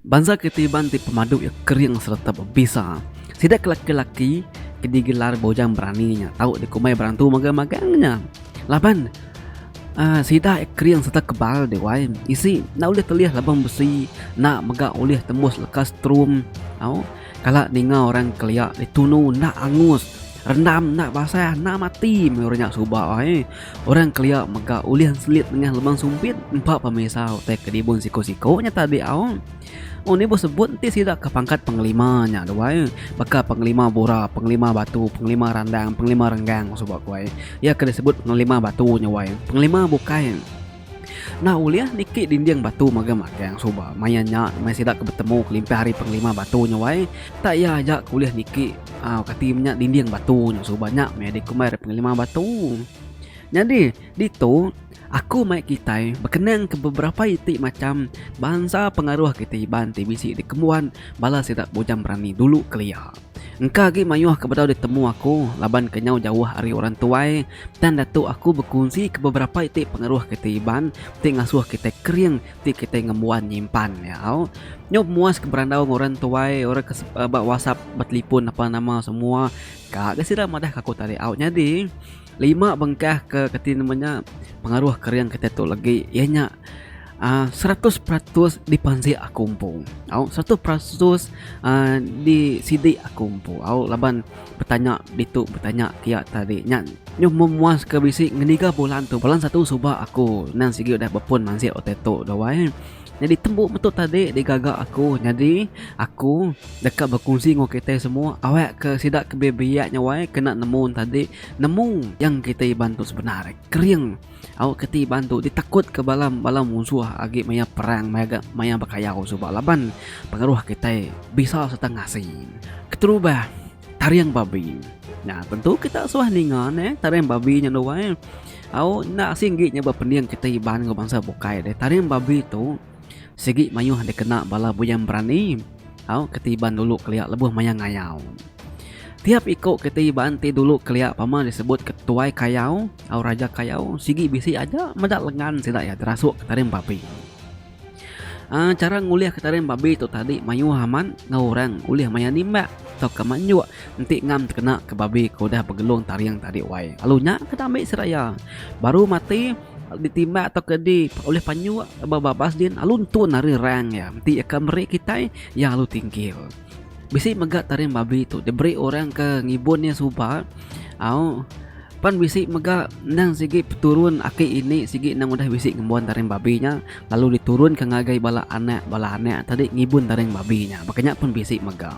Bansa ke Tiban ti pemadu iya kering sereta bebisa. Sida ke laki-laki ke digelar Bujang Berani nya tau dikumbai berantu magang-magang nya. Laban uh, sida iya kering sereta kebal deh wai. Isi enda ulih telih labang besi, enda mega ulih tembus leka strum. Au, kala ninga orang kelia ditunu enda angus. Rendam enda basah enda mati meh orang nya suba ai. Orang kelia mega ulih enselit nengah lubang sumpit empa pemisa utai kedibun siko-siko nya tadi au. Oh ni bos sebut enti sida ke pangkat pengelima nya tu ai. Baka pengelima bura, pengelima batu, pengelima randang, pengelima renggang suba ku ai. Iya ke disebut pengelima batu nya wai. Pengelima bukai. Nah ulih niki dinding batu mega magang suba maya nya maya sida ke betemu kelimpah hari pengelima batu nya wai tak iya aja ke ulih niki au kati menya dinding batu nya suba nya meh dikumbai hari pengelima batu. Nyadi ditu aku mai kitai bekenang ke beberapa iti macham bansa pengaruh kiti iban ti bisi dikembuan bala sida bujang berani dulu kelia. Engka agi mayuh ke bedau ditemu aku laban kenyau jauh ari orang tuai, tang datu aku bekunsika beberapa iti pengeruh kitai Iban ti ngasuh kitai kering ti kitai ngembuan nyimpan iya au. Nyau pemuas ke berandau enggau orang tuai orang ke ba wasap ba telipon apan nama semua ka ga sida madahka aku tadi au. Nyadi lima bengkah ke kati nama nya pengaruh kering kitai tu legi iya nya. Uh, seratus peratus dipanzik aku empu au seratus peratus uh, di sidik aku empu au laban bertanya ditu bertanya kia tadi nya nyu memuas ke bisi ngeniga bulan tu bulan satu suba aku nang sigi udah bepun manzik utai tu dawai jadi tembu betul tadi digaga aku jadi aku deka berkongsi ngu kita semua awak ke sida ke biak nyawai kena nemu tadi nemu yang kita iban tu sebenar kering Au keti iban tu ditakutka bala bala munsuh agi maya perang maya ga maya bekayau suba laban pengaruh kitai bisa sereta ngasi. Keterubah, taring babi. Nya tentu kita suah ninga neh taring babi nya nuan. Au enda asing agi nya ba pending kitai iban enggau bansa bukai deh. Taring babi tu. Sigi mayuh dikena bala buyang berani tau ke Iban dulu kelia lebuh maya ngayau. Tiap iko ke Iban ti dulu kelia pama disebut ke Tuai Kayau tau Raja Kayau sigi bisi aja meda lengan sida iya terasuk ke tarim babi. Uh, cara ngulih ke tarim babi tu tadi mayuh amat enggau orang ulih maya nimbak atau ke manjuk enti ngam tekena ke babi ke udah begelung taring tadi wai. Lalu nya ke ambi sida iya. Baru mati Ditimbak tauka di ulih panyu ba babas din alu nentun ari rang iya enti iya ka meri kitai iya alu tinggil. Bisi mega taring babi tu diberi orang ke ngibun iya suba au pan bisi mega endang sigi peturun aki ini sigi endang udah bisi ngembuan taring babi nya lalu diturunka ngagai bala anak bala anak tadi ngibun taring babi nya. Baka nya pun bisi mega.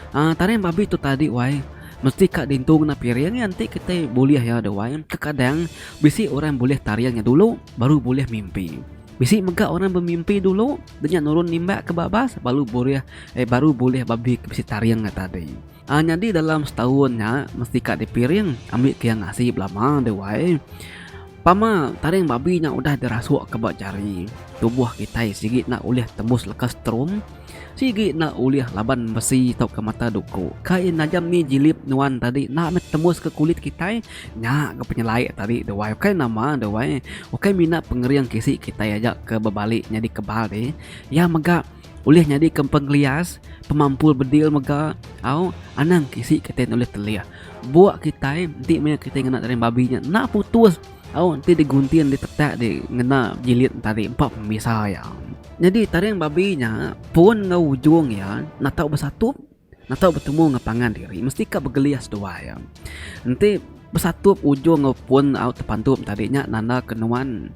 Ah tarian babi tu tadi wai mesti ka dintu ngena piring iya enti kitai bulih iya deh wai. Kekadang bisi orang bulih tarian nya dulu baru bulih mimpi. Bisi mega orang bemimpi dulu deh nya nurun nimbak ke babas baru bulih eh baru bulih babi ke bisi tarian nya tadi. Ah nyadi dalam setaun nya mesti ka dipiring ambi ke iya ngasi belama deh wai. Pama, taring babi nya udah dirasuk ke ba jari. Tubuh kitai sigi enda ulih tembus leka strum, sigi enda ulih laban besi tauka mata duku. Kai najam ni jilip nuan tadi enda meh tembus ke kulit kitai. Nya ga penyelai tadi deh wai. Ukai nama deh wai. Ukai mina pengering kisi kitai aja ke bebali nyadi kebal deh. Iya mega. ulih nyadika empa ngelias pemampul bedil mega au anang kisi kitai ulih telih buk kitai enti maya kitai ngena daging babi nya enda putus au enti digunting ditetak di ngena bilik tadi empa pemisa iya. Nyadi taring babi nya pun enggau ujung iya enda tau besatup. Natau betemu enggau pangan diri mesti ka begelis dua iya. Enti besatup ujung enggau pun au tepantup tadi nya nanda ke nuan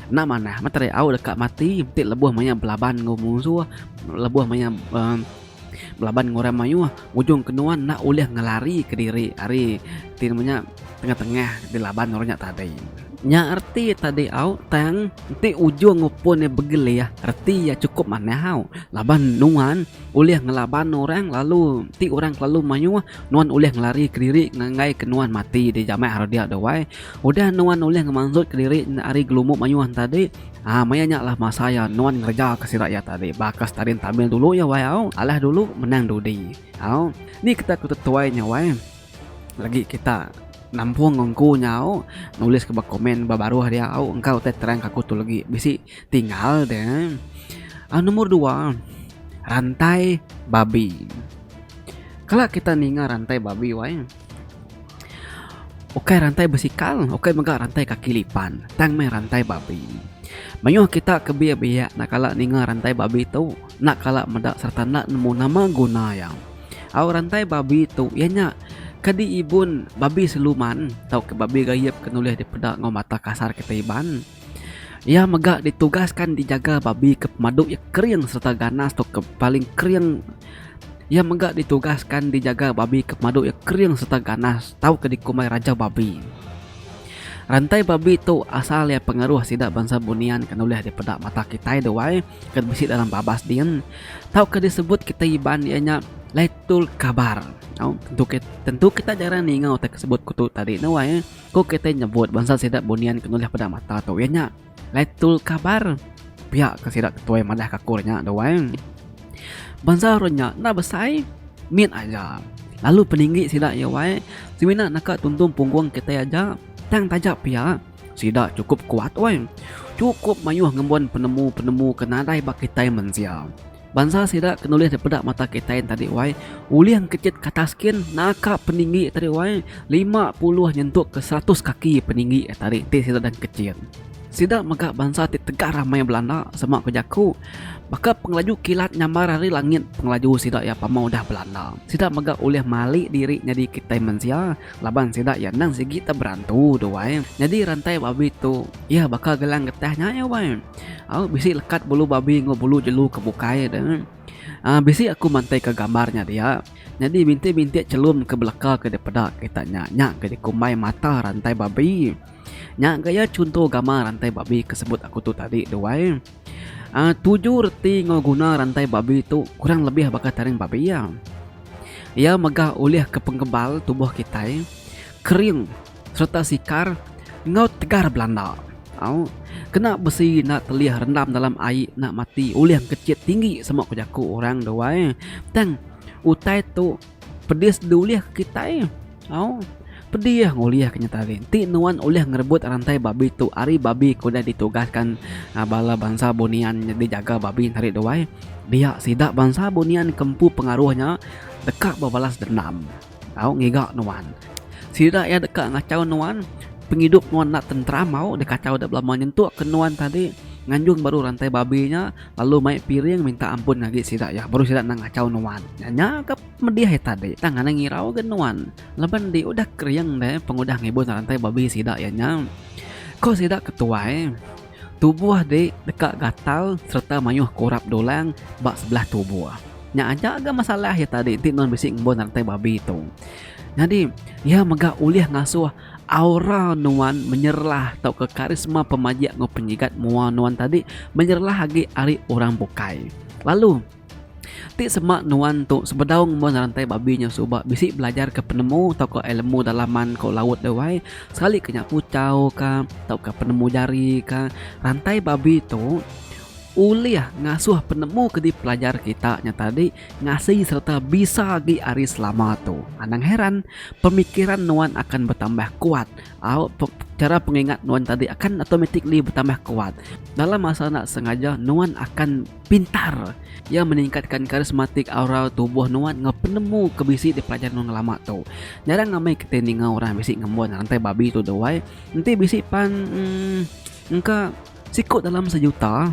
enda manah meh tadi au deka mati ti lebuh maya belaban enggau musuh lebuh maya uhh belaban enggau orang mayuh ujung ke nuan enda ulih ngelari ke diri ari ti nama nya tengah tengah dilaban orang nya tadi. Nya reti tadi au tang enti ujung enggau pun iya begelis reti iya chukup manah au laban nuan. ulih ngelaban orang lalu ti orang kelalu mayuh nuan ulih ngelari kediri ngagai ke nuan mati di jamek hari dia tu wai udah nuan ulih ngemansut kediri enda ari gelumbu mayuh nya tadi um maya nya lah masa iya nuan ngereja ke sida iya tadi baka sekali tampil dulu iya wai au alah dulu menang dudi au ni kita ku tetuai nya wai legi kita nampung empu nya au nulis ke ba komen ba baruh dia au engka utai terang ke aku tu legi bisi. Ti enggau tu um nombor dua rantai babi. Kala kita ninga rantai babi wai ukai rantai basikal ukai mega rantai kaki lipan tang meh rantai babi. Mayuh kita ke biak-biak enda kala ninga rantai babi tu enda kala meda sereta enda nemu nama guna iya. Au rantai babi tu iya nya ke diibun babi siluman tauka babi gayap ke nulih dipeda enggau mata kasar kita Iban. Iya mega ditugaskan dijaga babi ke pemadu iya kering sereta ganas tu ke paling kering. Iya mega ditugaskan dijaga babi ke pemadu iya kering sereta ganas tauka dikumbai raja babi. Rantai babi tu asal iya pengaruh sida bansa bunian ke nulih dipeda mata kitai duai ke bisi dalam babas din tauka disebut kitai Iban iya nya Laitul Kabar. Au tentu kitai jarang ninga utai ke sebut ku tu tadi nuai. Ku kitai nyebut bansa sida bunian ke nulih peda mata tu iya nya Laitul Kabar. Pia ke sida ketuai madah ka akur nya dau ai. Bansa orang nya enda besai, mit aja. Lalu peninggi sida iya wai semina naka tuntung punggung kitai aja tang taja pia sida chukup kuat wai. Chukup mayuh ngembun penemu-penemu ke nadai ba kitai mensia. Bansa sida ke nulis dipeda mata kitain tadi wai ulih engkechit kata skin naka peninggi tadi wai 50 nyentuk ke 100 kaki peninggi tadi ti sida dang kechit. Sida mega bansa ti tegah ramai belanda sema ku jaku baka pengelaju kilat nyambar ari langit pengelaju sida iya pama udah belanda. Sida mega ulih mali diri nyadi kitai mensia. Laban sida iya endang sigi ta berantu tu wai. Nyadi rantai babi tu iya baka gelang getah nya iya wai. Au bisi lekat bulu babi enggau bulu jelu ke bukai de. Aa bisi aku mantai ke gambar nya dia. Nyadi bintik bintik chelum ke beleka ke dipeda kita nya nya ke dikumbai mata rantai babi. Nya ga iya chunto gambar rantai babi ke sebut aku tu tadi tu wai. Uh, tuju reti enggau guna rantai babi tu kurang lebih baka taring babi iya. Iya megah ulih ke penggebal tubuh kitai kering sereta sikar enggau tegar belanda. Au, kena besi enda telih rendam dalam ai enda mati ulih engkechit tinggi semua ku jaku orang duai. Tang utai tu Pedis diulih ke kitai. Au. Pedi ya ngulih ke nyata ri. Enti nuan ulih ngerebut rantai babi tu ari babi ke udah ditugaskan aa bala bansa bunian nyadi jaga babi tarik duai, dia sida bansa bunian ke empu pengaruh nya deka bebalas dendam. Au ngiga nuan. Sida iya deka ngachau nuan, pengidup nuan enda tenteram au dikachau dep lama nyentuk ke nuan tadi nganjung baru rantai babi nya. lalu mai piring minta ampun ngagi sida iya baru sida endang ngachau nuan. Nya nya ka pedih iya tadi tang anang irau ga nuan laban di udah kering deh pengudah ngibun rantai babi sida iya nya. Ko sida ke tuai tubuh di deka gatal sereta mayuh kurap dulang ba sebelah tubuh. Nya aja ga masalah iya tadi enti nuan bisi ngembun rantai babi tu. Nyadi iya mega ulih ngasuh. Aura nuan menyerlah tauka karisma pemajik enggau penyigat mua nuan tadi menyerlah agi ari orang bukai. Lalu, ti sema nuan tu sebedau ngembuan ngerantai babi nyau suba bisi belajarka penemu tauka elemu dalaman ko laut deh wai, sekalika nya puchau ka tauka penemu jari ka. Rantai babi tu ulih ngasuh penemu ke dipelajar kita nya tadi. Ngasi sereta bisa agi ari selama tu. Anang heran, pemikiran nuan akan betambah kuat. Au, chara pengingat nuan tadi akan automatically betambah kuat. Dalam masa enda sengaja, nuan akan pintar. Iya meningkatka karismatik aura tubuh nuan enggau penemu ke bisi dipelajar nuan ngelama tu. Jarang ngamai kitai ninga orang bisi ngembun rantai babi tu deh wai. Enti bisi pan, emm, engka. Siku dalam sejuta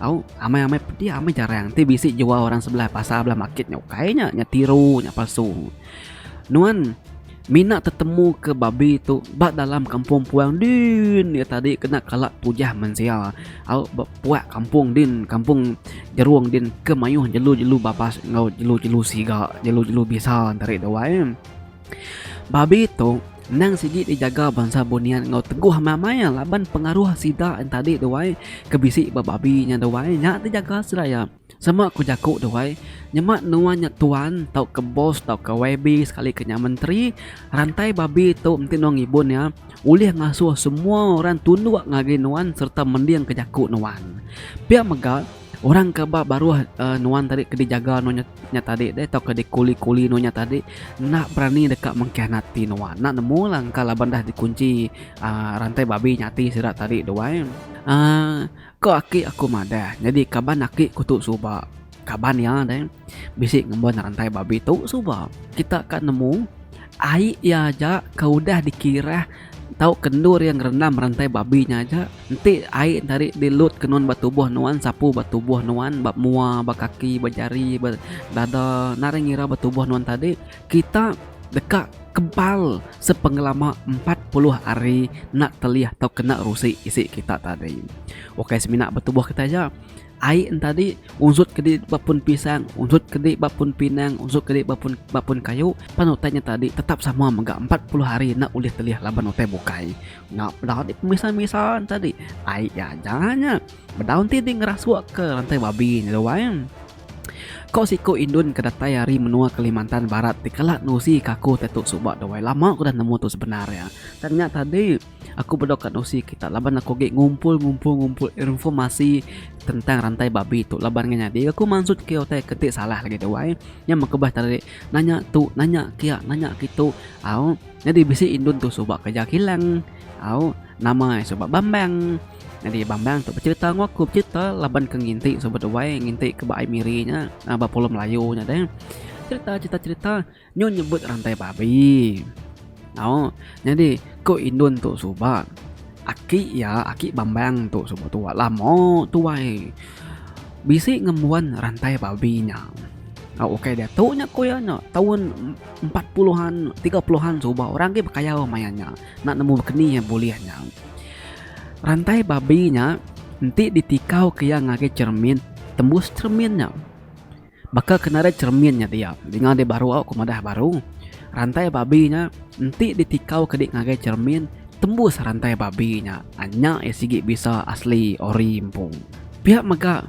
tau amai-amai pedi amai jarang ti bisi jual orang sebelah pasar belah market nya ukai nya nya tiru nya palsu nuan mina tetemu ke babi tu ba dalam kampung puang din ya tadi kena kala tujah mensia au ba puak kampung din kampung jerung din ke mayuh jelu-jelu babas enggau jelu-jelu siga jelu-jelu bisa nta ri duai babi tu Endang sigi dijaga bansa bunian enggau teguh amai-amai laban pengaruh sida entadi duai ke bisi ba babi nya duai nya ti jaga sida iya. Sama ku jaku duai, nyema nuan nya tuan tauka bos tauka YB sekalika nya menteri, rantai babi tu enti nuan ngibun iya ulih ngasuh semua orang tunduk ngagai nuan sereta mendingka jaku nuan. Pia mega, Orang ke ba baruh nuan tadi ke dijaga nuan nya tadi deh tauka dikuli-kuli nuan nya tadi enda berani deka mengkianati nuan. Enda nemu la engka laban dah dikunchi aaa rantai babi nya ati sida tadi tu ai. Aaa ko aki aku madah nyadi kaban aki ku tu suba kaban iya deh. bisi ngembuan rantai babi tu suba kita ka nemu ai iya aja ke udah dikirah tau kendur iya ngerendam rantai babi nya aja enti ai nya tadi dilut ke nuan ba tubuh nuan sapu ba tubuh nuan ba mua ba kaki ba jari ba dada nadai ngira ba tubuh nuan tadi kita deka kebal sepengelama empat puluh hari enda telih tau kena rusi isi kita tadi. Ukai semina ba tubuh kita aja. Ai entadi, unsut kedi ba pun pisang, unsut kedi ba pun pinang, unsut kedi ba pun ba pun kayu, pan utai nya tadi tetap sama mega empat puluh hari enda ulih telih laban utai bukai. Nya peda agi pemisa-misa entadi. Ai iya aja nya. Bedau enti dih ngerasukka rantai babi nya deh wai. Ko siku indun ke datai ari menua Kalimantan Barat ti kala nusi kaku te tu suba deh wai. Lama ku udah nemu tu sebenar iya. Tang nya tadi. Aku bedok ka dosi kita laban aku agi ngumpul ngumpul ngumpul irnfomasi tentang rantai babi tu laban ngan nyadi aku mansut ke utai ke ti salah lagi tu ai. Nya meh kebas tadi nanya tu nanya kia nanya kitu au nyadi bisi indun tu suba kereja kilang au nama e suba Bambang. Nyadi Bambang tu becerita ngu aku becerita laban ke nginti suba duai nginti ke ba ai Miri nya ba pulau Melayu nya deh. Cerita cerita cerita. Nyu nyebut rantai babi. Au, nyadi ko indun tu suba. Aki iya, aki bambang tu suba tuwa lama tuwai bisi ngembuan rantai babi nya. Au ukai diatu nya ko iya nya taun empat puluhan tiga puluhan suba orang agi bekayau maya nya enda nemu keni iya bulih nya. Rantai babi nya enti ditikau ke iya ngagai cermin tembus cermin nya. Baka ke nadai cheremin nya dia, dinga deh baru au ke madah baru, rantai babi nya enti ditikau ke dek ngagai cheremin tembus rantai babi nya nya iya sigi bisa asli ori empu. Pia mega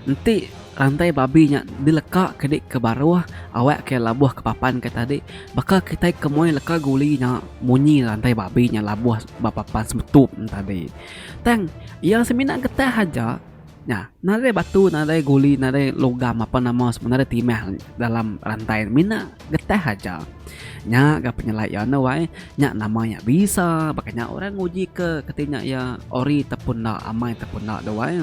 enti rantai babi nya dileka ke dek ke baruh awak ke labuh ke papan ke tadi baka kitai ke moi leka guli nya munyi rantai babi nya labuh ba papan semetup tadi tang iya semina getah aja. Nya, nadai batu, nadai guli, nadai logam apan nama semua nadai timah dalam rantai ne. Mina getah aja. Nya ga penyelai iya enda wai. Nya nama nya bisa baka nya orang nguji ke keti nya iya ori ta pun enda, amai ta pun enda tu wai.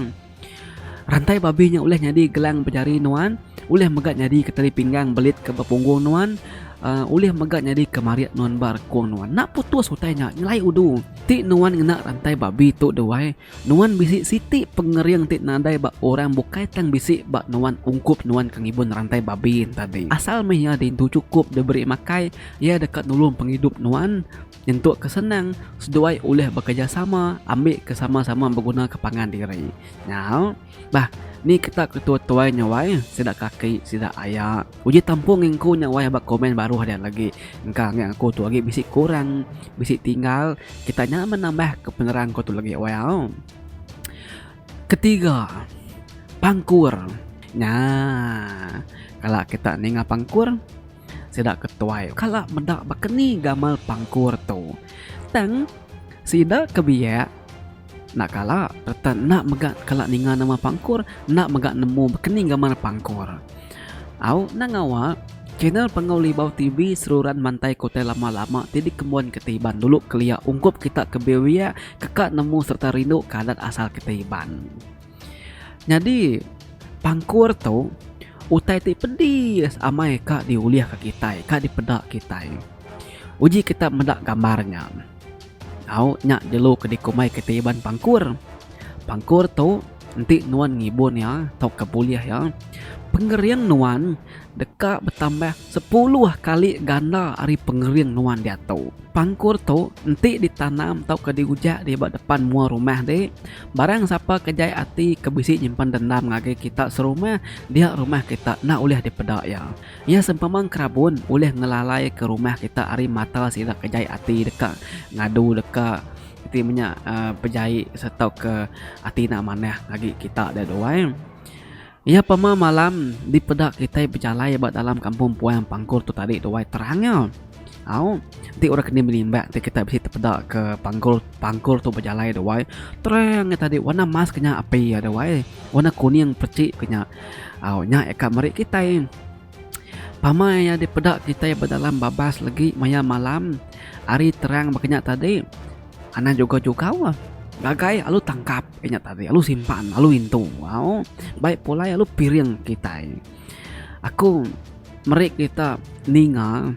Rantai babi nya ulih nyadi gelang pejari nuan, ulih mega nyadi ke tali pinggang belit ke ba punggung nuan, uhh ulih mega nyadi ke marit nuan ba rekung nuan. Enda putus utai nya, nyelai udu. Ti nuan ngena rantai babi tu deh wai. Nuan bisi siti pengering ti nadai ba orang bukai tang bisi ba nuan ungkup nuan ke ngibun rantai babi tadi. Asal meh iya diintu chukup diberi makai, iya deka nulung pengidup nuan. Nyentuk ke senang, seduai ulih bekerejasama ambika sama-sama begunaka pangan diri. Nya. Bah, ni ketak ke tua tuai nya wai, sida kaki sida aya. Uji tampung engku nya wai ba komen baruh dian agi. Engka ange aku tu agi bisi kurang, bisi tinggal, kita nya menambah ke penerang ku tu lagi wai au. Ketiga, pangkur. Nya, kala kita ninga pangkur. sida ke tuai kala meda baka ni gamal pangkur tu. Tang sida ke biak enda kala sereta enda mega kala ninga nama pangkur, enda mega nemu baka ni gamal pangkur. Au endang ngawa channel Pengawa Libau TV seruran mantai ke utai lama-lama ti dikembun ke Iban dulu kelia ungkup kita ke biak-biak teka nemu sereta rinduka adat asal kita Iban. Nyadi pangkur tu utai ti pedis amai ka diulihka kitai, ka dipeda kitai. Uji kita meda gambar nya. Au nya jelu ke dikumbai kitai iban pangkur. Pangkur tu enti nuan ngibun iya tauka bulih iya, pengering nuan deka betambah. Sepuluh kali ganda ari pengering nuan diatu. Pangkur tu enti ditanam tauka diujak di ba depan mua rumah ti, barang sapa ke jai ati ke bisi nyimpan dendam ngagai kita serumah, dia rumah kita enda ulih dipeda iya. Iya sempama kerabun ulih ngelalaika rumah kita ari mata sida ke jai ati deka ngadu deka iti menya pejai sereta ke ati enda manah ngagai kita deh tu ai. Iya pemah malam dipeda kitai bejalai ba dalam kampung puang Panggur tu tadi tuai terang nya. Au, enti orang kini menimbak ti kitai bisi tepeda ke Panggur Panggur tu bejalai tuai terang nya tadi warna emas ke nya api iya tuai. Warna kuning pechik ke nya. Au, nya eka meri kitai. Pama iya dipeda kitai bedalam babas legi maya malam ari terang baka nya tadi anang juga jugau ngagai alu tangkap baka nya tadi alu simpan alu intu au bai pulai alu piring kitai aku meri kita ninga.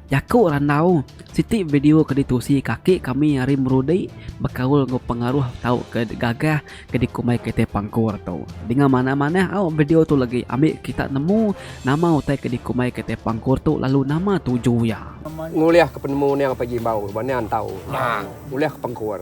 Jaku randau, Siti video ke ditusi kaki kami ari Merudi bekaul enggau pengaruh tauka gagah ke dikumbai kitai Pangkur tu. Dinga manah-manah au video tu legi ambi kita nemu nama utai ke dikumbai kitai Pangkur tu lalu nama tuju iya. Ngulihka penemu niang pagi embau ba niang entau ngulihka pangkur.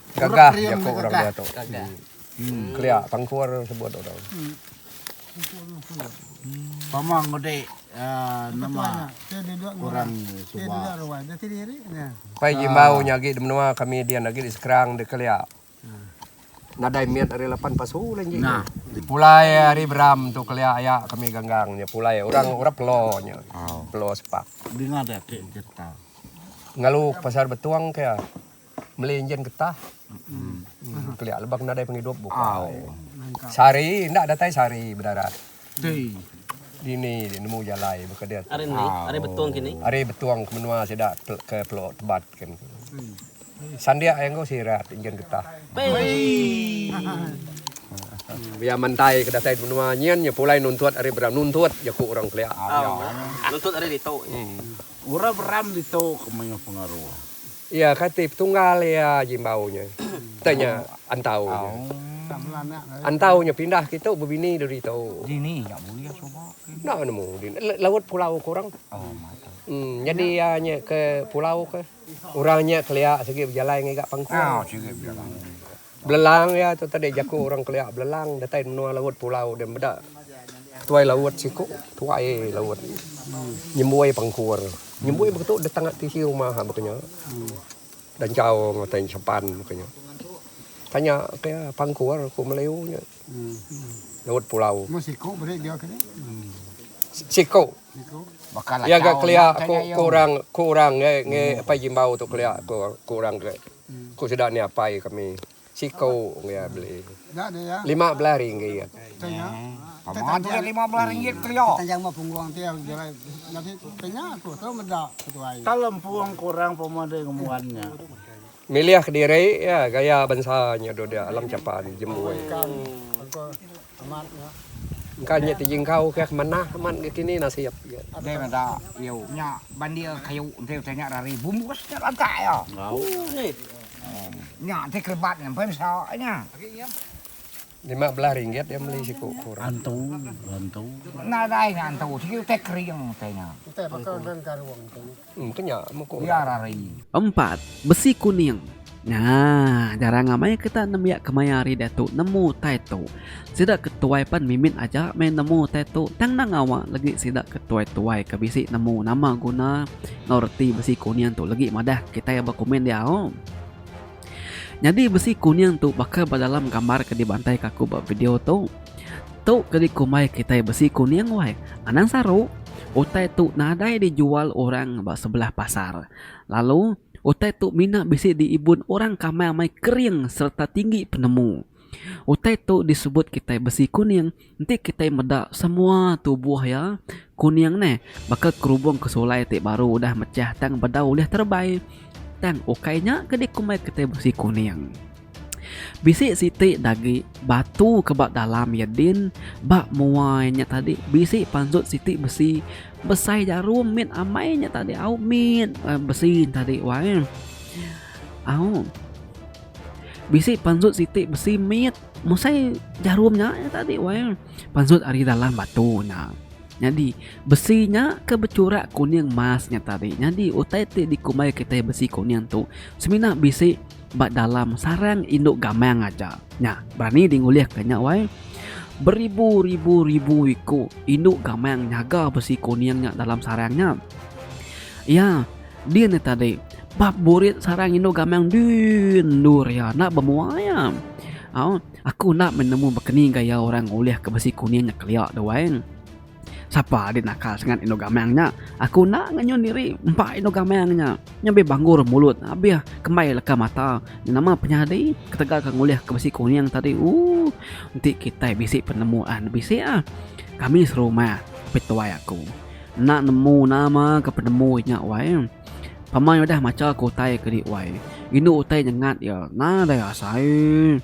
Gagah jaku orang dia tu. Kelia tangkur sebut orang. Pama ngudi nama orang suba. Pai Jimbau nya agi di menua kami dian agi di Skrang di Kelia. Nadai mit ari lapan pasu lah nji tu. Pulai ari Beram tu Kelia aya kami ganggang nya pulai orang orang Pelo nya. Pelo Sepak. Dinga dia ti cerita. Ngalu pasar Betung ke. Meli enjin getah. Kelia lebang nadai pengidup bukai. Sehari enda datai sehari bedarat. Dini dia nemu jalai baka dia tu. Ari betong ke ni. Ari betong ke menua sida ke Pelok Tebat ke ni. Sandik ai enggau sirat enjin getah. Pia mantai ke datai menua nyin nya pulai nuntut ari beram. Nuntut jaku orang Kelia. Nuntut ari ditu. Orang beram ditu ke mayuh pengaruh. Iya kati petunggal iya aji embau nya. Utai nya antau nya. Antau nya pindah kitu bebini diri tu. Enda nemu dini. Laut pulau ke orang. Em nyadi iya nya ke pulau ke. Orang nya kelia sigi bejalai ngagai ga pangkung. Belelang iya tu tadi jaku orang kelia belelang datai menua laut pulau dia meda ketuai laut siku tuai laut nyemboi pangkur nyemboi baka tu datang ati isi rumah baka nya da enchau matai nya sepan baka nya tanya ke iya pangkur ku melayu nya laut pulau siku iya ga kelia ku orang ngai ngai apai jimbau tu kelia ku orang ke. Ku sida nya apai kami siku enggai iya beli lima belas ringgit. Milih kediri iya gaya bansa nya dudi alam chapan jembu ai. Engka nya ti jengkau kah manah amat ga kini nasib ga. Deh meda iu. Nya bandir kayu enti utai nya rari bumbus nya lantak iya. Nya ti kerebat nya empai mesa nya. Lima belas ringgit iya meli siku kur. Antu antu. Nadai nya antu sigi utai kering utai nya. Utai baka engka karung tu. Biar ari. Empat, besi kuning. Ngaa, jarang amai kita nembiak kemaya ari diatu nemu tai tu. Sida ke tuai pan mimit aja meh nemu tai tu tang endang ngawa legi sida ke tuai-tuai ke bisi nemu nama guna enggau reti besi kuning tu legi madah kitai ba komen diau. Nyadi besi kuning tu baka ba dalam gambar ke dibantaika aku ba video tu. Tu ke dikumbai kitai besi kuning wai. Anang saru, utai tu nadai dijual orang ba sebelah pasar. Lalu, utai tu mina bisi diibun orang kamai amai kering sereta tinggi penemu. Utai tu disebut kitai besi kuning enti kitai meda semua tubuh iya kuning neh baka kerubung ke sulai ti baru udah mechah tang bedau ulih terebai tang ukai nya ke dikumbai kitai besi kuning. Bisi siti da agi batu ke ba dalam iya din ba mua iya nya tadi bisi panjut siti besi besai jarum mit amai nya tadi au mit besi nya tadi wai au. Bisi pansut siti besi mit musai jarum nya tadi wai pansut ari dalam batu nya nyadi besi nya ke bechurak kuning emas nya tadi nyadi utai ti dikumbai kitai besi kuning tu semina bisi ba dalam sarang indu gamang aja nya berani dingulihka nya wai beribu-ribu-ribu iku indu gamang nyaga besi kuning nya dalam sarang nya iya. Dia nya tadi ba burit sarang indu gamang dui endu ria enda bemua iya. Au, aku enda meh nemu baka ni gaya orang ngulih ke besi kuning nya kelia tu wang. Sapa agi nakal sangat indu gamang nya. Aku enda ngenyun diri empa indu gamang nya. Nya be banggur mulut abih kembai leka mata. Nama penyadi ketegal ke ngulih ke besi kuning tadi ooh. Enti kitai bisi penemuan bisi ah. Kami serumah, petuai aku. Enda nemu nama ke penemu inya wai. Pamai udah macha ke utai ke di wai. Indu utai nyengat iya nadai asai.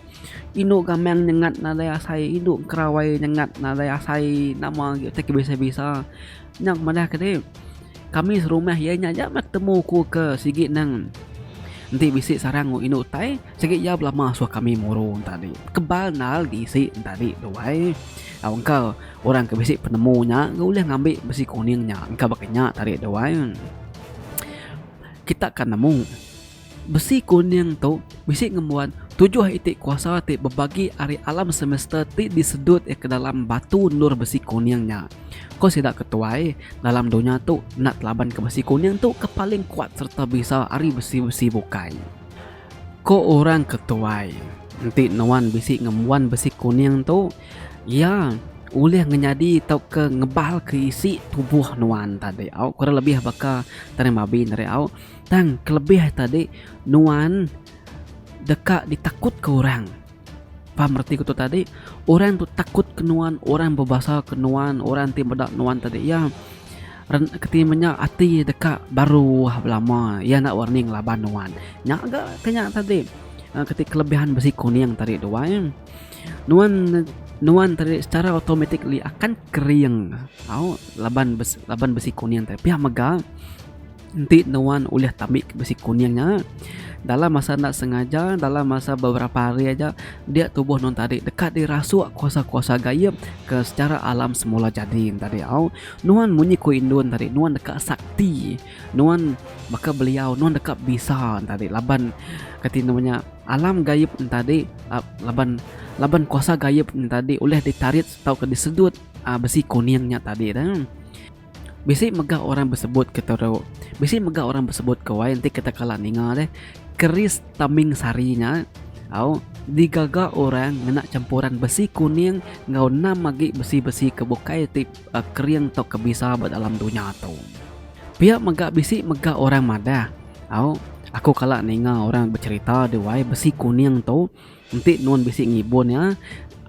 Indu gamang nyengat nadai asai. Indu kerawai nyengat nadai asai. Nama agi utai ke bisa bisa. Nya ku madah ke dek. Kami serumah iya nya aja meh temu ku ke sigi nang enti bisi sarang indu utai. Sigi iya belama suah kami muru entadi. Kebal nal di isi entadi tu ai. Au engka orang ke bisi penemu nya ga ulih ngambi besi kuning nya engka baka nya tadi tu ai. Kita ka nemu besi kuning tu bisi ngembuan tujuh iti kuasa ti bebagi ari alam semesta ti disedut iya ke dalam batu endur besi kuning nya. Ko sida ke tuai dalam dunya tu enda telaban ke besi kuning tu ke paling kuat sereta bisa ari besi-besi bukai. Ko orang ke tuai, enti nuan bisi ngembuan besi kuning tu, iya ulih ngenyadi tauka ngebalka isi tubuh nuan tadi au, kurang lebih baka tanah mabi tadi au. Tang kelebih tadi nuan deka ditakutka orang. Faham reti ku tu tadi? Orang tu takut ke nuan, orang bebasa ke nuan, orang ti meda nuan tadi iya keti menya ati deka baruh belama iya enda warning ngelaban nuan. Nya ga ke nya tadi eh, keti kelebihan besi kuning tadi tu ai. Eh. Nuan nuan tadi secara automatik li akan kering tau laban besi, laban besi kuning tadi pia mega Enti nuan ulih tambik ke besi kuning nya dalam masa enda sengaja dalam masa beberapa hari aja dia tubuh nuan tadi deka dirasuk kuasa-kuasa gaib ke secara alam semula jadi tadi au nuan munyi ku indun tadi nuan deka sakti nuan baka beliau nuan deka bisa tadi laban kati nama nya alam gaib nya tadi laban laban kuasa gaib nya tadi ulih ditarit tauka disedut besi kuning nya tadi dah. Bisi mega orang besebut ke teru. Bisi mega orang besebut ke wai enti kita kala ninga deh keris taming sari nya au digaga orang ngena champuran besi kuning enggau enam agi besi-besi ke bukai ti kering tau ke bisa ba dalam dunya tu. Pia mega bisi mega orang madah au aku kala ninga orang becherita deh wai besi kuning tu. Enti nuan bisi ngibun iya,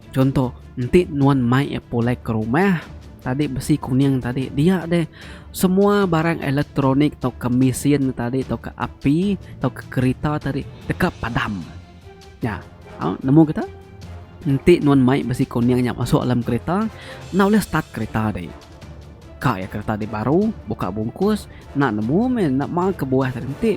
chunto enti nuan mai iya pulai ke rumah tadi besi kuning tadi dia deh semua barang elektronik tauka mesin tadi tauka api tauka kereta tadi deka padam. Nya au nemu kita enti nuan mai besi kuning nya masuk dalam kereta enda ulih start kereta deh. Ka iya kereta deh baru buka bungkus enda nemu meh enda ma kebuah tadi enti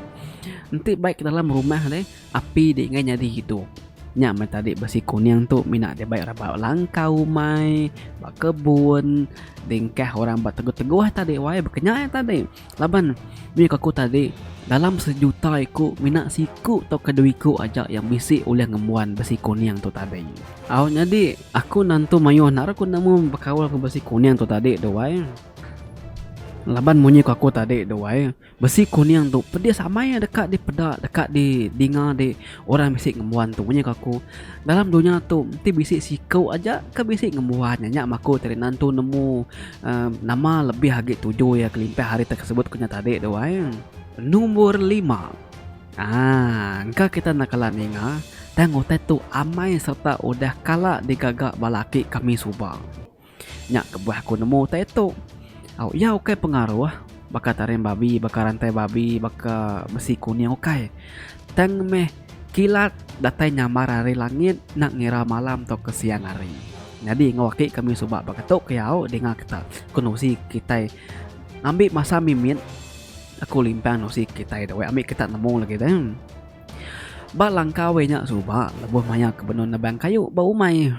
enti baik dalam rumah deh. Api dik ngai nyadi gitu. Nya meh tadi besi kuning tu mina dibai orang ba langkau umai, ba kebun, dingkah orang ba teguh-teguh tadi wai baka nya aja tadi. Laban mih ku aku tadi dalam sejuta iku mina siku tauka dua iku aja yang bisi ulih ngembuan besi kuning tu tadi. Au nyadi aku nantu mayuh enda ra ku nemu bekaul enggau besi kuning tu tadi tu wai. Laban munyi ku aku tadi tu wai. Besi kuning tu pedis amai deka dipeda deka di dinga di orang bisi ngembuan tu nya aku. Dalam dunya tu enti bisi siku aja ke bisi ngembuan nya nya maku tadi nan tu nemu uhh nama lebih agi tuju iya kelimpah ari tersebut ku nya tadi tu ai. Numbor lima aaa engka kita enda kala ninga tang utai tu amai serta udah kala digaga ba laki kami suba. Nya kebuah aku nemu utai tu. Au, iya ukai pengaruh baka taring babi, baka rantai babi, baka besi kuning ukai. Tang meh kilat datai nyambar ari langit enda ngira malam tauka siang hari. Nyadi enggau aki kami suba baka tu ke iya au dinga kita ku nusi kitai ngambi masa mimit aku limpang nusi kitai da weik ambi kita nemu lagi deh. Ba langkau iya nya suba lebuh maya ke benung nebang kayu ba umai.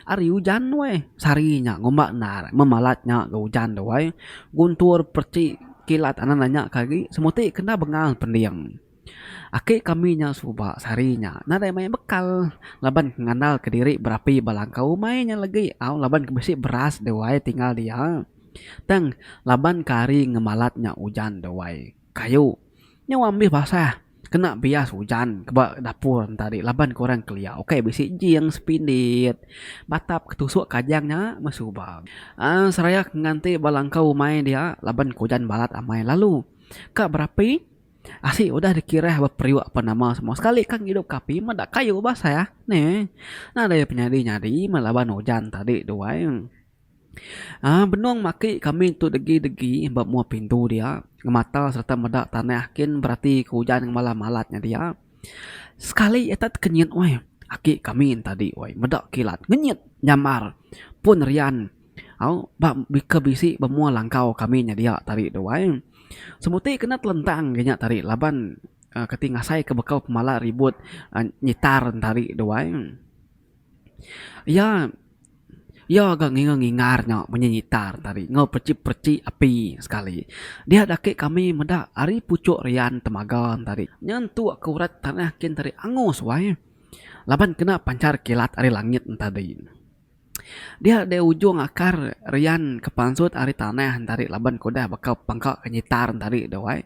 Ari ujan tu ai. Sehari nya ngumba endar memalat nya ga ujan tu ai. Guntur pereti kilat anak nya ke agi semuti kena bengal pending. Aki kami nya suba sehari nya nadai maya bekal laban ke ngandalka diri berapi ba langkau umai nya lagi au laban ke bisi beras tu ai tinggal dia. Tang laban ke hari ngemalat nya ujan tu ai. kayu nyau ambis basah kena bias ujan ke ba dapur enta ri laban ke orang kelia ukai bisi jing sepindit batap ke tusuk kajang nya meh suba aaa seraya ke nganti ba langkau umai dia laban ke ujan balat amai lalu ka berapi asi udah dikirah ba periuk pan nama semua sekali ka ngidup ke api meda kayu basah neh nadai penyadi nyadi meh laban ujan tadi tu ai. Aaa benung maki kami tu degi degi ba mua pintu dia ngemata serta meda tanah kin berati ke ujan ngemala malat nya dia sekali ita tekenyit weh aki kami ne tadi weh meda kilat ngenyit nyamar pun rian au ba ke bisi ba mua langkau kami nya dia tadi tu ai semuti kena telentang ke nya tadi laban keti ngasai ke bekau pemala ribut nyitar ne tadi tu ai. Iya iya ga ngingar ngingar nya bunyi gitar tadi enggau pechip pechip api sekali. Dia dak ake kami meda ari puchok rian temaga tadi. Nya tu aku rat tanah kin tadi angus wai laban kena panchar kilat ari langit tadi. Dia deh ujung akar rian ke pansut ari tanah tadi laban ku udah baka pangka gitar tadi deh wai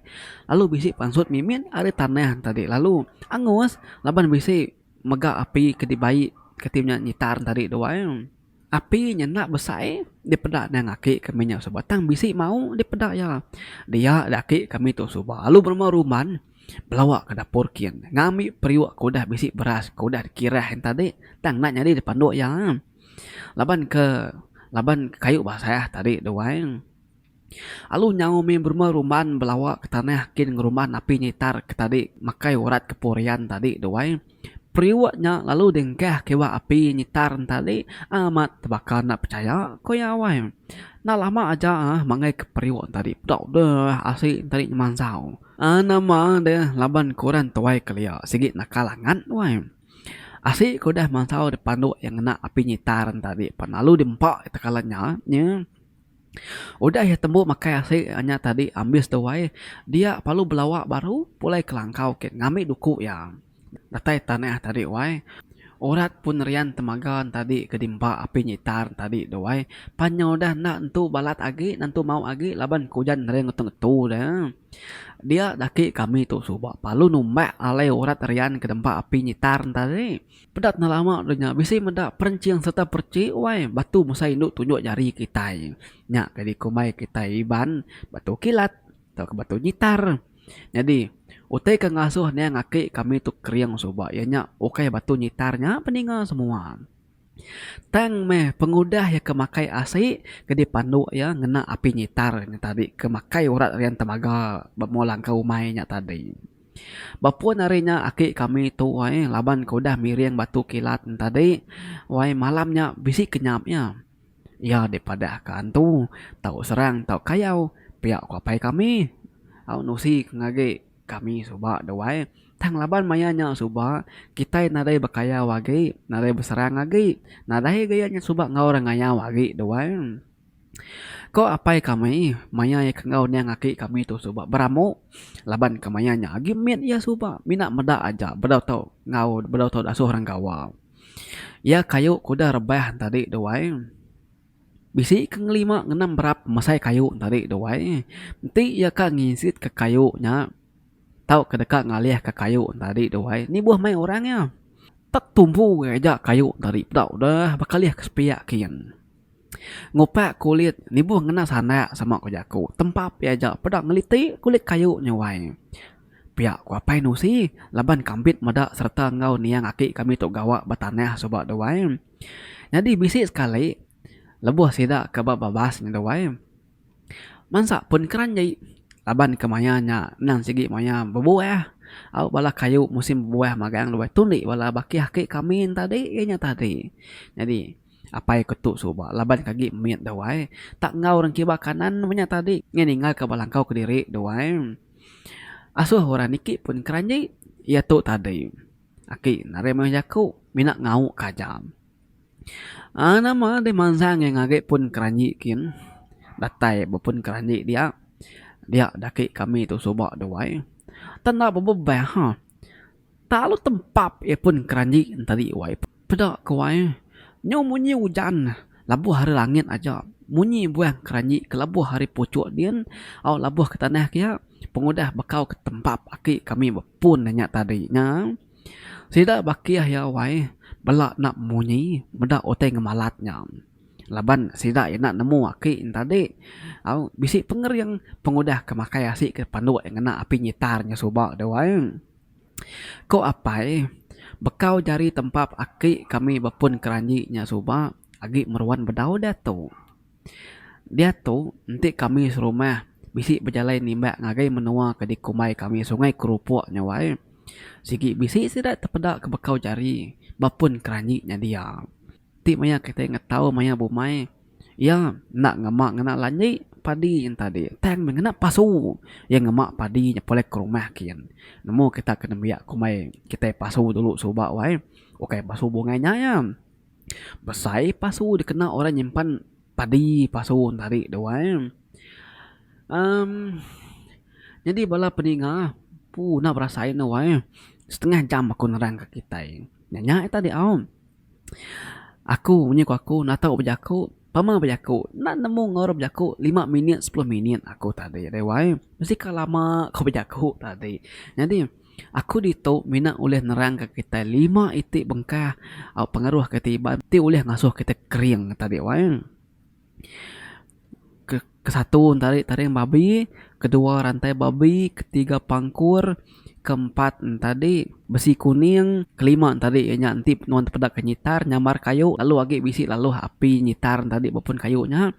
lalu bisi pansut mimit ari tanah tadi lalu angus laban bisi. Mega api ke dibai kati nya nyitar ne tadi tu ai. Api nya enda besai dipeda nang aki kami nya suba tang bisi mau dipeda iya. Dia dak aki kami tu suba lalu berumah ruman belawa ke dapur kin ngambi periuk ke udah bisi beras ke udah dikirah yen tadi tang enda nyadi dipandu iya. Laban ke laban ke kayu basah tadi tu ai. Alu nyau mih berumah rumban belawa ke tanah kin ngerumban api nyitar ke tadi makai urat ke purian tadi tu ai. Periuk nya lalu dingkah ke iwa api nyitar nya tadi amat tebaka enda pechaya ku iya wai. Enda lama aja uhh mangai ke periuk tadi peda udah asi ne tadi nyemansau. Uhh nama deh laban ke orang tuai kelia sigi nakal angat wai. Asi ke udah mansau deh panduk iya ngena api nyitar nya tadi pan alu di empa tekala nya. Udah iya tembu makai asi nya tadi ambis tu ai dia lalu belawa baru pulai ke langkau ke ngambi duku iya datai tanah tadi wai urat pun rian temaga tadi ke dimpa api nyitar tadi tu ai pan nya udah enda tentu balat agi enda tentu mau agi laban ke ujan ngering ngetu ngetu ne dia agi ke ami tu suba lalu numbak alai urat rian ke dempa api nyitar tadi. Peda tengah lama dulu nya bisi meda perenching sereta perchi wai batu mesai indu tunjuk jari kitai. Nya ke dikumbai kitai Iban batu kilat tauka batu gitar. Nyadi utai ke ngasuh niang aki kami tu kering suba iya nya ukai batu gitar nya pe ninga semua. Tang meh pengudah iya ke makai asi ke dipandu iya ngena api gitar nya tadi ke makai urat rian temaga ba mua langkah umai nya tadi. Ba pun hari nya aki kami tu ai laban ke udah miring batu kilat ne tadi wai malam nya bisi kenyap iya. Iya deh padah ke antu tau serang tau kayau pia ku apai kami. Au nusi ke ngage kami suba de wai tang laban maya nya suba kitai nadai bekayau agi nadai beserang agi nadai agi iya nya suba enggau orang ngayau agi de wai. Ko apai kami maya iya ke enggau niang aki kami tu suba beramu laban ke maya nya agi mit iya suba mina meda aja bedau tau enggau bedau tau dasuh orang gawa. Iya ke ayu ke udah rebah tadi tu ai bisi ke ngelima ngenam berap mesai ke ayu tadi tu ai enti iya ka ngisit ka kayu nya tau ke deka ngalih ka kayu tadi tu ai nibuh meh orang iya. Tek tumbu aja kayu tadi peda udah bekalih ke sepiak kian. Ngupak kulit nibuh ngena sandak sama ku jaku tempa pia aja peda ngeliti kulit kayu nyuai. Pia ku Apai Nusi laban kambit meda sereta enggau niang aki kami tu gawa ba tanah suba dua ai. Nyadi bisi sekali lebuh sida ke ba babas nya dua ai. Mansa pun keranji laban ke maya nya endang sigi maya bebuah au bala kayu musim bebuah magang dua ai. Tu indi bala baki aki kami tadi inya tadi. Nyadi. Apai ke tu suba laban ke agi mit dau ai. Tak enggau orang kiba kanan meh nya tadi. Ngai ninggal ke ba langkau kediri dau ai. Asoh orang niki pun keranji. Iya tu tadi. Aki ne ari mayuh jaku. Mina ngau ke aja. Aaa nama deh mansang iya ngagai pun keranji kin. Datai ba pun keranji dia. Dia daki kami tu suba dau ai. Tang enda bebebah. Talu tempap iya pun keranji enteri wai peda ke wai nyau munyi ujan labuh ari langit aja munyi buah keranji ke labuh ari puchok din au labuh ke tanah ke iya pengudah bekau ke tempap aki kami bepun ne nya tadi nya sida bakih iya wai bela enda munyi meda utai ngemalat nya laban sida enda nemu aki ne tadi au bisi pengering pengudah ke makai asi ke panduk ngena api ngitar nya suba deh wai. Ko apai, bekau jari tempap aki kami bepun keranji nya suba agi meruan bedau diatu. Diatu enti kami serumah bisi bejalai nimbak ngagai menua ke dikumbai kami Sungai Kerupok nya wai, sigi bisi sida tepeda ke bekau jari bepun keranji nya dia. ti maya kitai ngetau maya bumai iya enda ngema ngena lanji padi entadi tang meh ngena pasu iya ngema padi nyepul iya ke rumah kin nemu kita ke nembiak ke umai kitai pasu dulu suba wai ukai pasu bungai nya iya besai pasu dikena orang nyimpan padi pasu entadi tu wai um nyadi bala peninga puna berasai ne wai setengah jam aku nerang ka kitai nya nya tadi au. Aku, nya ku aku natau bejaku, pama bejaku. Enda nemu enggau orang bejaku lima minit sepuluh minit aku tadi deh wai. Mesti ka lama ku bejaku tadi. Nyadi aku ditu mina ulih nerangka kitai lima iti bengkah au pengaruh ke ti iban ti ulih ngasuh kitai kering tadi wai. Ke kesatu entari taring babi, kedua rantai babi, ketiga pangkur, keempat entadi besi kuning, kelima entadi iya nya enti nuan tepeda ke nyitar nyambar kayu lalu agi bisi laluh api nyitar entadi ba pun kayu nya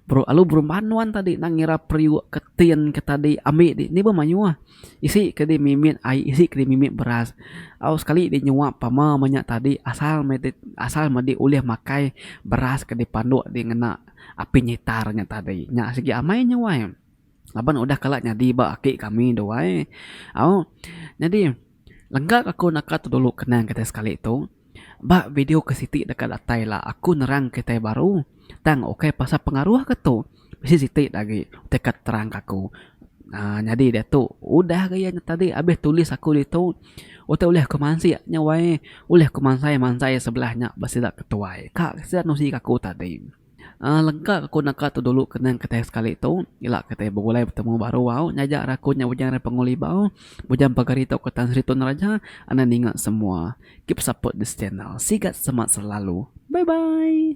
lalu berumban nuan tadi nang ira periuk ke tin ke tadi ami ti ni be mayuh. Isi ke di mimit ai isi ke di mimit beras. Au sekali di nyuap pama meh nya tadi asal meh di asal meh di ulih makai beras ke di panduk di ngena api nyitar nya tadi. Nya sigi amai nya wai laban udah kala nyadi ba aki kami tu ai. Au nyadi lengkaka ku naka tu dulu kenang kitai sekali tu. Ba video ke siti deka datai ila aku nerang kitai baru tang ukai pasal pengaruh ke tu bisi siti da agi utai ke terang ke aku aaa nyadi diatu udah ga iya tadi abis tulis aku ditu utai ulih aku mansik nya wai ulih aku mansai mansai sebelah nya ba sida ketuai ka sida nusi ke aku tadi. Aaa lengka aku naka tu dulu kenang kitai sekali tu ila kitai begulai betemu baru au nyaja ra aku nya Bujang Repongol Ibau Bujang Pagar Ito ke Tan Sri Tun Raja enda ninga semua keep support this channel sigat semat selalu bye bye.